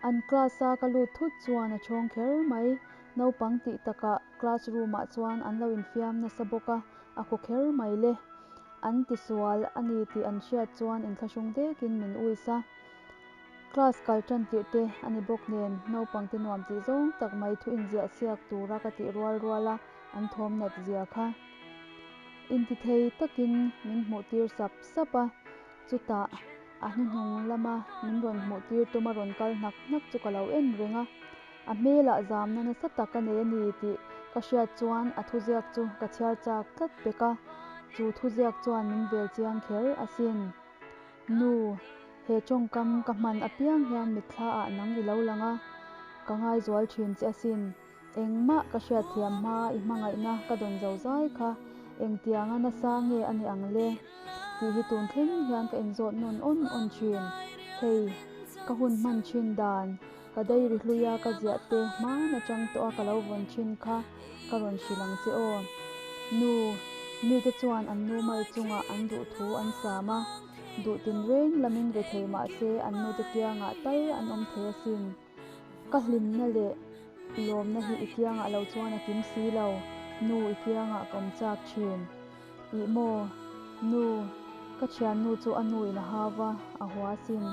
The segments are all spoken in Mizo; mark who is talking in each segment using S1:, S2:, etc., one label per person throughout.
S1: An class a ka lut thut chuan a chhawng kher mai. Naupang tih takah class room ah chuan an lo infiam nasa bawk a, a khaw kher mai le. An tisual a ni tih an hriat chuan inthlahrung dekin min uisa. Class kal tan tirh te a ni bawk nen naupangte nuam tih zawng tak mai thu inziah siak tura ka tih rual rual a, an thawm nat zia kha intithei takin min hmuhtir sap sap a, chutah a hnuhnung lama min rawn hmuhtir tuma rawn kal hnak hnak chu ka lo en reng a, a hmelah zamna nasa tak a nei a ni tih ka hriat chuan a thuziak chu ka chhiar chak tlat pek a, chu thuziak chuan min velchiang kher asin. Nu, he tawngkam ka hman apiang hian mitthla ah nang ilo lang a, ka ngaizual thin che asin. Engmah ka hriatthiam hma i hmangaihna ka dawn zo zai kha, engtianga nasa nge ani ang le? tih hi tun thleng hian ka inzawt nawn awn awn thin. Hei, ka hun hman thin dan. Ka dei ri hlui a, ka ziah te hman a chang tawh a, ka lo vawn thin kha ka rawn hrilh ang che aw. Nu, mite chuan an nu mal chungah an duh thu an sam a, duh tin reng lamin ve thei mahse an nu te kiangah tal an awm thei asin. Ka hlimna leh lawmna hi i kiangah lo chuan a kim si lo, nu i kiangah ka awm chak thin. Ih maw, nu, ka thiannu chu a nu in a hau a, a huasin,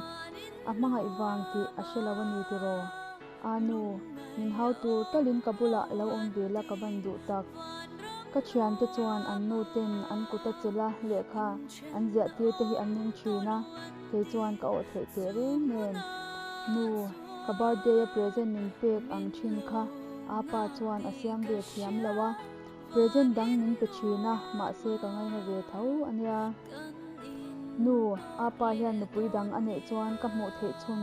S1: A hmangaih vang tih a hre lo a ni tiraw? Aa nu, min hau tur talhin ka bulah lo awm ve la ka van duh tak. Ka thiante chuan an nu ten an kuta che la lehkha an ziah tir te hi an ning thin a, kei chuan ka awh theih teh reng nen. Nu, ka birthday a present min pek ang thin kha, aa pa chuan a siam ve thiam lo a. Present dang min pe thin a, mahse ka ngaina ve tho a nia. Nu, a pa hian nupui dang a neih chuan ka hmuh theih chhun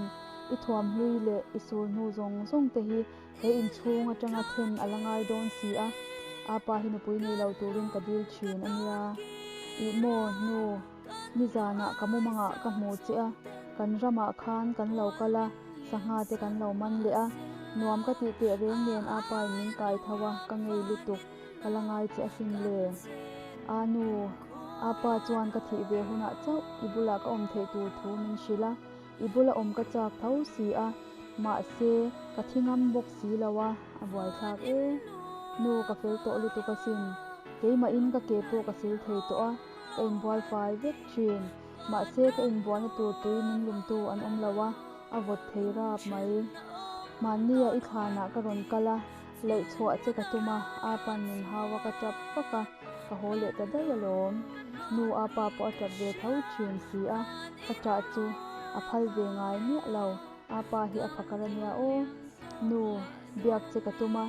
S1: i thuam hlui leh i sul hnu zawng zawng te hi he inchhung atanga then a la ngai dawn si a, a pa hi nupui nei lo turin ka dil thin a nia. Ih maw nu. Nizanah ka mumangah ka hmu che a, kan ramah khan kan lo kal a, sangha te kan lo man leh a, nuam ka tih teh reng nen a pa in min kai tho a, ka ngei lutuk, ka la ngai che a hrim le. A nu, a pa chuan ka thih ve hunah chauh i bulah ka awm theih tur thu min hrilh a, i bula awm ka chak tho si a, mahse ka thi ngam bawk si lo a, a buaithlak e. Nu, ka fel tawh lutuk asin, keimahin ka ke pawh ka sil thei tawh a. Ka inbual fai vek thin. Mahse ka inbualna tur tui min lûmtu an awm lo a, a vawt thei rap mai. Hmannia i thlanah ka rawn kal a, leih chhuah che ka tum a, Apa'n min hau a ka ṭap vak a, ka haw leh ta daih alawm. Nu Apa pawh a ṭap ve tho thin si a, ka ṭah chu a phal ve ngai miah lo. Apa hi a fakar a nia aw. Nu, biak che ka tum a,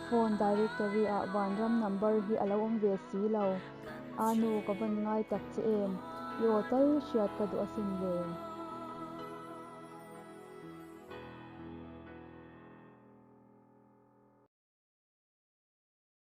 S1: phone directory-ah Vanram number hi a lo awm ve si lo. Aa nu ka vawn ngai tak che em? I aw tal hriat ka duh a sin ve.